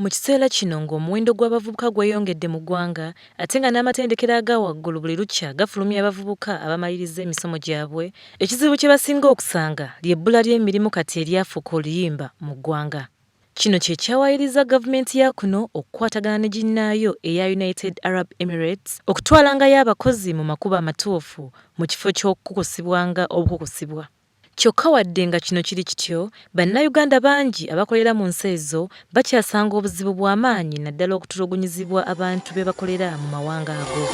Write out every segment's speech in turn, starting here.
Mu kiseera kino ng'omuwendo gw'abavubuka gweyongedde mu ggwanga ate nga n'amatendekero aga waggulu buli lukya gafulumya abavubuka abamalirizza emisomo gyabwe, ekizibu kye basinga okusanga ly'ebbula ly'emirimu kati eryafuuka oluyimba mu ggwanga. Kino kye kyawaayirizza gavumenti ya kuno okukwatagana ne ginnaayo eya United Arab Emirates okutwalangayo abakozi mu makubo amatuufu mu kifo ky'okukukusibwanga obukukusibwa. Kyokka wadde nga kino kiri kityo, Bannayuganda bangi abakolera mu nsi ezo bakyasanga obuzibu bwa maanyi naddala okutulugunyizibwa abantu be bakolera mu mawanga ago.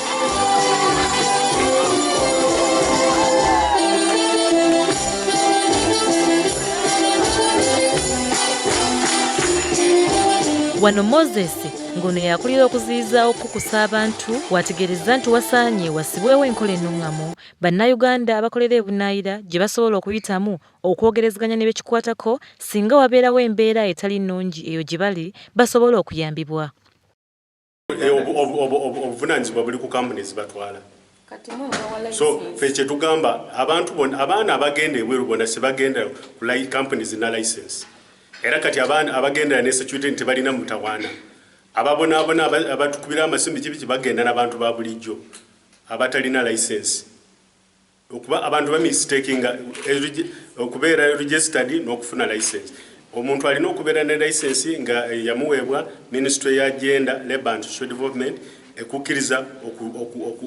Wano Moses ng'ono y'akulira okuziyiza okukukusa abantu w'ategeerezza nti wasaanye wassibwewo enkola ennuŋŋamu Bannayuganda abakolera ebunaayira gye basobola okuyitamu okwogerezeganya ne be kikwatako singa wabeerawo embeera etali nnungi eyo gye bali basobole okuyambibwa. Obuvunaanyizibwa buli ku kampuni ezibatwala so ffe kye tugamba abantu bona abaana abagenda ebweru bona sebagenda ku layi kampuni zirina layisensi era kati abaana abagendera ne security nti tebalina mutawaana ababonaabona abatukubira amasimu kibiki bagenda n'abantu ba bulijjo. abatalina license okuba abantu ba mistakinga okubeera registered n'okufuna license omuntu alina okubeera ne license nga yamuweebwa ministry ya gender labour and social development ekukkiriza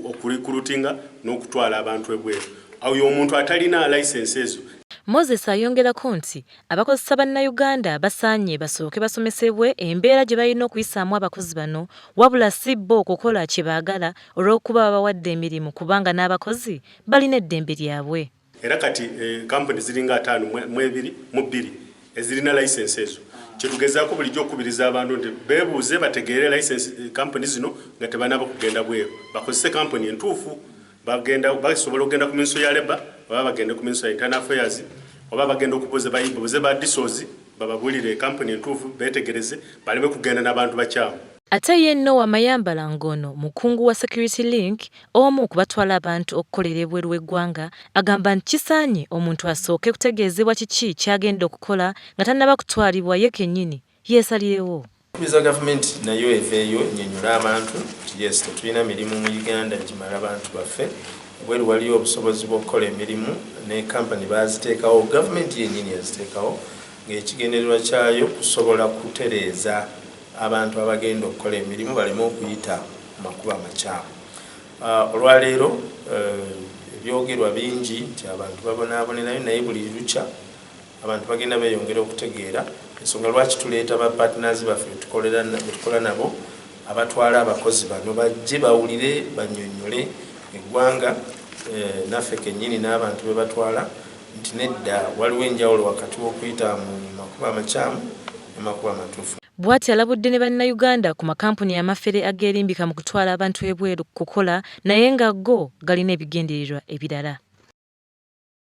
okulikulutinga n'okutwala abantu ebweru awo omuntu atalina license ezo Moses ayongerako nti abakozesa Bannayuganda basaanye basooke basomesebwe embeera gye balina okuyisaamu abakozi bano wabula si bo kukola kye baagala olw'okuba babawadde emirimu kubanga n'abakozi balina eddembe lyabwe. Era kati kkampuni ziringa ataano mu bbiri ezirina layisinsi ezo. Kye tugezaako bulijjo okukubiriza abantu nti beebuuze bategeere layisinsi kkampuni zino nga tebanaaba kugenda bweru bakozese kkampuni entuufu. Bagenda basobola okugenda ku minso ya Labour oba bagende ku minso ya Internal Affairs oba bagenda okubuuza babuuze ba DSOs bababuulire kkampuni entuufu beetegereze baleme kugenda na bantu bakyamu. Ate ye Noah Mayambala ng'ono mukungu wa Security Link omu ku batwala abantu okukolera ebweru w'eggwanga agamba nti kisaanye omuntu asooke kutegeezebwa kiki ky'agenda okukola nga tannaba kutwalibwa ye kennyini yeesalirewo. Tukubiriza gavumenti nayo eveeyo ennyonnyole abantu nti yes tetulina mirimu mu Uganda egimala bantu baffe, ebweru waliyo obusobozi bw'okukola emirimu ne kampani baaziteekawo, gavumenti yennyini yaziteekawo ng'ekigendererwa kyayo kusobola kutereeza. abantu abagenda okukola emirimu baleme okuyita mu makubo amakyamu. Olwaleero ebyogerwa bingi nti abantu babonaabonerayo naye buli lukya abantu bagenda beeyongera okutegeera ensonga lwaki tuleeta ba partners baffe betukola nabo abatwala abakozi bano bajje bawulire banyonyole eggwanga eh, naffe kennyini n'abantu be batwala nti nedda waliwo enjawulo wakati w'okuyita mu makubo amakyamu n'amakubo amatuufu. Bwatyo alabudde ne bannayuganda ku makampuni amafere ageerimbika mu kutwala abantu ebweru kukola naye nga go galina ebigendererwa ebirala.